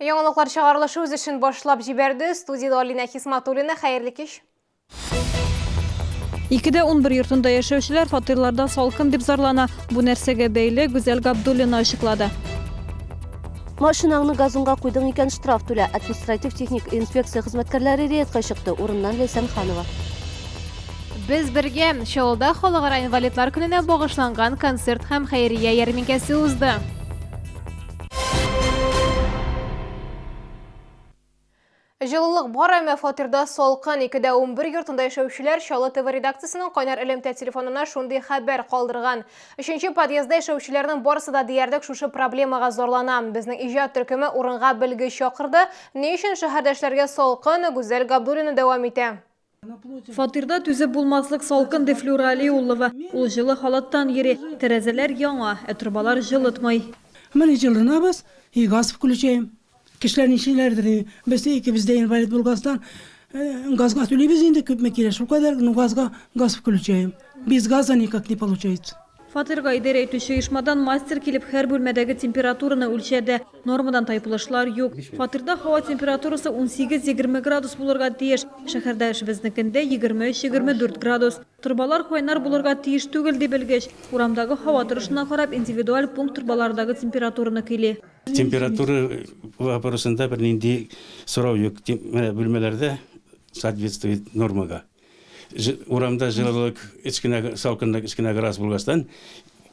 Яңалыклар чыгарылышы үз эшен башлап җибәрде. Студияда Алина Хисматуллина. Хәерле кич. Икедә 11 йортында яшәүчеләр фатирларда салкын дип зарлана. Бу нәрсәгә бәйле Гүзәл Габдуллина ачыклады. Машинаңны газонга куйдың икән, штраф түлә. Административ-техник инспекция хезмәткәрләре рейдка чыкты. Урыннан Ләйсән Ханова. Без бергә Чаллыда халыкара инвалидлар көненә багышланган концерт һәм хәйрия ярминкәсе узды. Җылылык бар, әмма фатирда салкын. Икедә унбер йортында яшәүчеләр Чаллы ТВ редакциясенең кайнар элемтә телефонына шундый хәбәр калдырган. Өченче подъездда яшәүчеләрнең барысы да диярлек шушы проблемага зарлана. Безнең иҗат төркеме урынга белгеч чакырды. Ни өчен шәһәрдәшләргә салкын? Гүзәл Габдуллина дәвам итә. Фатирда түзеп булмаслык салкын, ди Флюра Алиуллова. Ул җылы халаттан йөри. Тәрәзәләр яңа, ә торбалар җылытмый. Менә җылынабыз, и газ включаем. Кешеләр нишлиләрдер, ди. Без икебез дә инвалид булгастан, газга түлибез инде күпме кирәк, шулкадәр, ну газга газ включаем. Без газа никак не получается. Фатирга идәрә итүче оешмадан мастер килеп һәр бүлмәдәге температураны үлчәде. Нормадан тайпылышлар юк. Фатирда һава температурасы 18-20 градус булырга тиеш. Шәһәрдә эшебезнекендә 23-24 градус. Торбалар кайнар булырга тиеш түгел, ди белгеч. Урамдагы һава торышына карап, индивидуаль пункт торбалардагы температураны көйли. Температура вопросында бернинди сорау юк. Менә бүлмәләрдә соответствует нормага. Урамда җылылык кечкенә салкынлык кечкенә градус булгачтан,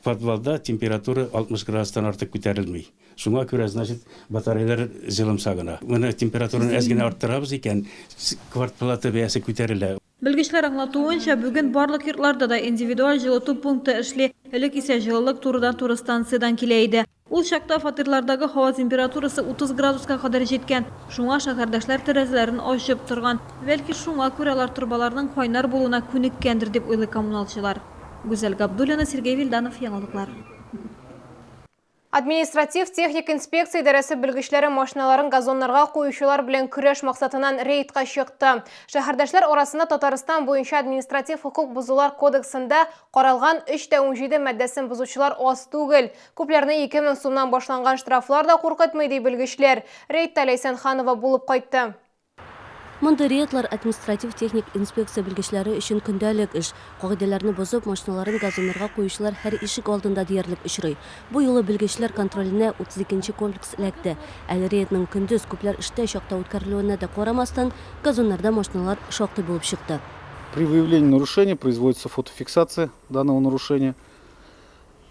подвалда температура 60 градустан артык күтәрелми. Шуңа күрә, значит, батареялар җылымса гына. Менә температураны әз генә арттырабыз икән, квартплата бәясе күтәрелә. Белгечләр аңлатуынча, бүген барлык йортларда да индивидуаль җылыту пункты эшли. Элек исә җылылык турыдан-туры станциядән килә иде. Ул чакта фатирлардагы һава температурасы 30 градуска кадәр җиткән, шуңа шәһәрдәшләр тәрәзәләрен ачып торган. Бәлки, шуңа күрә алар торбаларның кайнар булуына күнеккәндер, дип уйлый коммуналчылар. Гүзәл Габдуллина, Сергей Вильданов, Яңалыклар. Административ-техник инспекция идарәсе белгечләре машиналарын газоннарга куючылар белән көрәш максатыннан рейдка чыкты. Шәһәрдәшләр арасында Татарстан буенча административ хокук бозулар кодексында каралган 3 тә 17 маддәсен бозучылар аз түгел. Күпләрне 2000 сумнан башланган штрафлар да куркытмый, ди белгечләр. Рейдта Ләйсән Ханова булып кайтты. Мондый рейдлар административ-техник инспекция белгечләре өчен көндәлек эш. Кагыйдәләрне бозып, машиналарын газоннарга куючылар һәр ишек алдында диярлек очрый. Бу юлы белгечләр контроленә 32 нче комплекс эләкте. Әле рейдның көндез, күпләр эштә чакта үткәрелүенә дә карамастан, газоннарда машиналар шактый булып чыкты. При выявлении нарушения производится фотофиксация данного нарушения.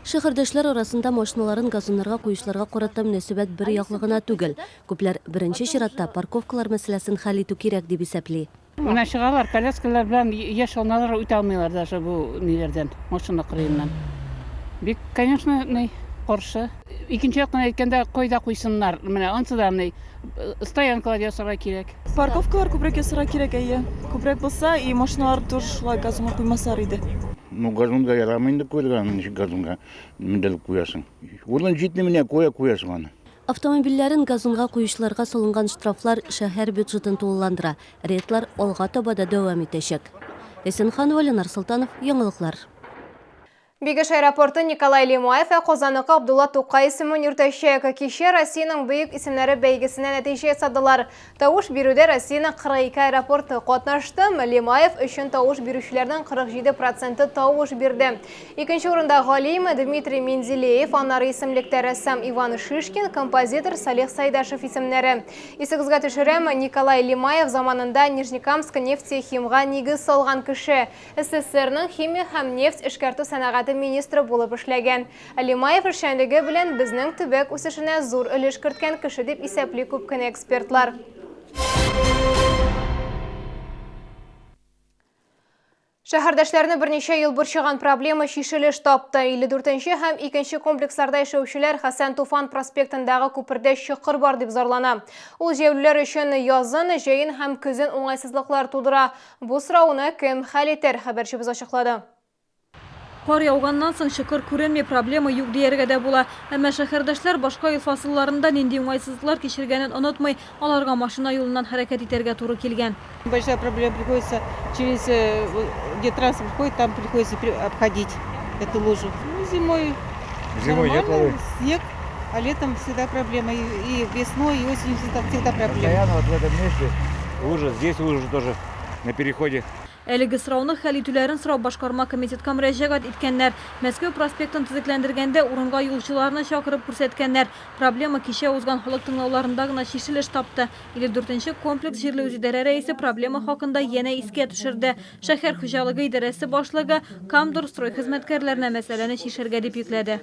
Шәһәрдәшләр арасында машиналарын газоннарга куючыларга карата мөнәсәбәт бер яклы гына түгел. Күпләр, беренче чиратта, парковкалар мәсьәләсен хәл итү кирәк дип исәпли. Менә чыгалар, коляскалар белән яшь аналар үтә алмыйлар даже бу ниләрдән, машина кырыеннан. Бик, конечно, ни, каршы. Икенче яктан әйткәндә, кайда куйсыннар? Менә ансы да, ни, стоянкалар ясарга кирәк. Парковкалар күбрәк ясарга кирәк, әйе. Күбрәк булса и машиналар тоже шулай газонга куймасалар иде. Ну, газонга ярамый инде куярга, аны ничек газонга менделеп куясың. Урын җитми менә куя куясың аны. Автомобильләрен газонга куючыларга салынган штрафлар шәһәр бюджетын тулыландыра, рейдлар алга таба да дәвам итәчәк. Эсенханова, Ленар Солтанов, яңалыклар. Бигеш аэропорты Николай Лемуев ә Казаныкы Абдулла Тукай исемен йөртәчәк. Кичә Россиянең бөек исемнәре бәйгесенә нәтиҗә ясадылар. Тавыш бирүдә Россиянең 42 аэропорты катнашты. Лемаев өчен тавыш бирүчеләрнең 47 проценты тавыш бирде. Икенче урында галим Дмитрий Менделеев, аннары исемлектә рәссам Иван Шишкин, композитор Салих Сайдашев исемнәре. Исегезгә төшерәм, Николай Лемаев заманында Нижнекамск нефтехимга нигез салган кеше. СССРның химия һәм нефть эшкәртү сәнәгате министры булып эшләгән. Лимаев эшчәнлеге белән безнең төбәк үсешенә зур өлеш керткән кеше дип исәпли күп кенә экспертлар. Шәһәрдәшләрне берничә ел борчыган проблема чишелеш тапты. 54 нче һәм икенче комплексларда яшәүчеләр Хәсән Туфан проспектындагы күпердә чокыр бар дип зарлана. Ул җәяүлеләр өчен язын, җәен һәм көзен уңайсызлыклар тудыра. Бу сорауны кем хәл итер, хәбәрчебез ачыклады. Кар яуганнан соң чокыр күренми, проблема юк дияргә дә була. Әмма шәһәрдәшләр башка ел фасылларында нинди уңайсызлыклар кичергәнен онытмый, аларга машина юлыннан хәрәкәт итәргә туры килгән. Большая проблема, приходится через где транспорт проходит, там приходится обходить эту лужу. Ну, зимой Зимой нормально, еплый. снег А летом всегда проблема. И весной, и осенью всегда, всегда проблема. Постоянно вот в этом месте лужа, здесь лужа тоже на переходе. Әлеге сорауны хәл итүләрен сорап башкарма комитетка мөрәҗәгать иткәннәр. Мәскәү проспектын төзекләндергәндә урынга юлчыларны чакырып күрсәткәннәр. Проблема кичә узган халык тыңлауларында гына чишелеш тапты. 54 комплекс җирле үзидарә рәисе проблема хакында янә искә төшерде. Шәһәр хуҗалыгы идарәсе башлыгы Камдорстрой хезмәткәрләренә мәсьәләне чишәргә дип йөкләде.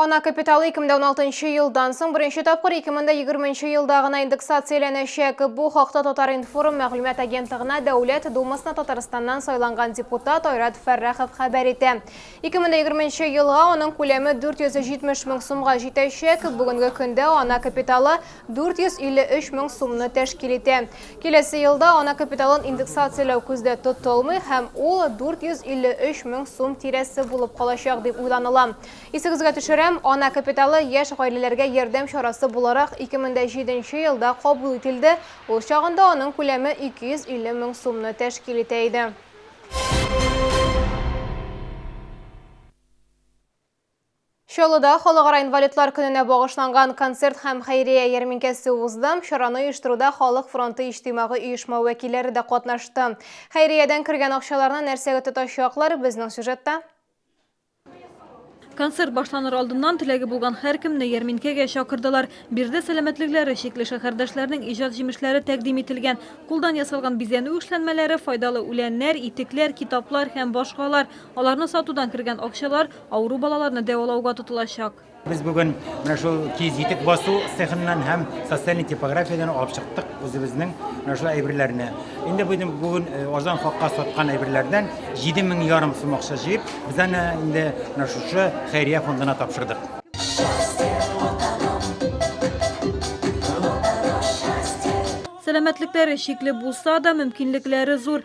Ана капиталы 2016 елдан соң беренче тапкыр 2020 елда гына индексацияләнәчәк. Бу хакта Татар-информ мәгълүмат агентлыгына Дәүләт Думасына Татарстаннан сайланган депутат Айрат Фәррахов хәбәр итә. 2020 елга аның күләме 470 мең сумга җитәчәк. Бүгенге көндә ана капиталы 453 мең сумны тәшкил итә. Киләсе елда ана капиталын индексацияләү күздә тотылмый һәм ул 453 мең сум тирәсе булып калачак дип уйланыла. Исегезгә төшерәм, Ана капиталы яшь гаиләләргә ярдәм чарасы буларак 2007 нче елда кабул ителде, ул чагында аның күләме 250 мең сумны тәшкил итә иде. Чаллыда Халыкара инвалидлар көненә багышланган концерт һәм хәйрия ярминкәсе узды. Чараны оештыруда Халык фронты иҗтимагый оешма вәкилләре дә катнашты. Хәйриядән кергән акчаларны нәрсәгә тотачаклар, безнең сюжетта. Концерт башланыр алдыннан теләге булган һәркемне ярминкәгә чакырдылар. Биредә сәламәтлекләре чикле шәһәрдәшләрнең иҗат җимешләре тәкъдим ителгән. Кулдан ясалган бизәнү эшләнмәләре, файдалы үләннәр, итекләр, китаплар һәм башкалар. Аларны сатудан кергән акчалар авыру балаларны дәвалауга тотылачак. Без бүген менә шул киез итек басу цехыннан һәм социальный типографиядән алып чыктык үзебезнең менә шул әйберләрне. Инде бүген бүген э, азан хакка саткан әйберләрдән 7000 ярым сум акча җыеп, без аны инде менә шушы хәйрия фондына тапшырдык. Сәламәтлекләре шикле булса да, мөмкинлекләре зур.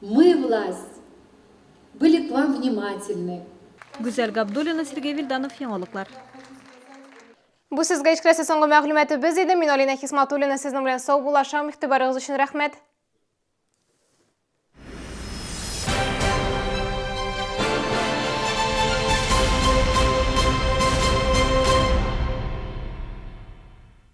Мы власть. Были к вам внимательны. Гүзәл Габдуллина, Сергей Вильданов, Яңалыклар. Бу сезгә ишкерәсе соңгы мәгълүматы без иде. Мин Алина Хисматуллина сезнең белән сау булашам. Игътибарыгыз өчен рәхмәт.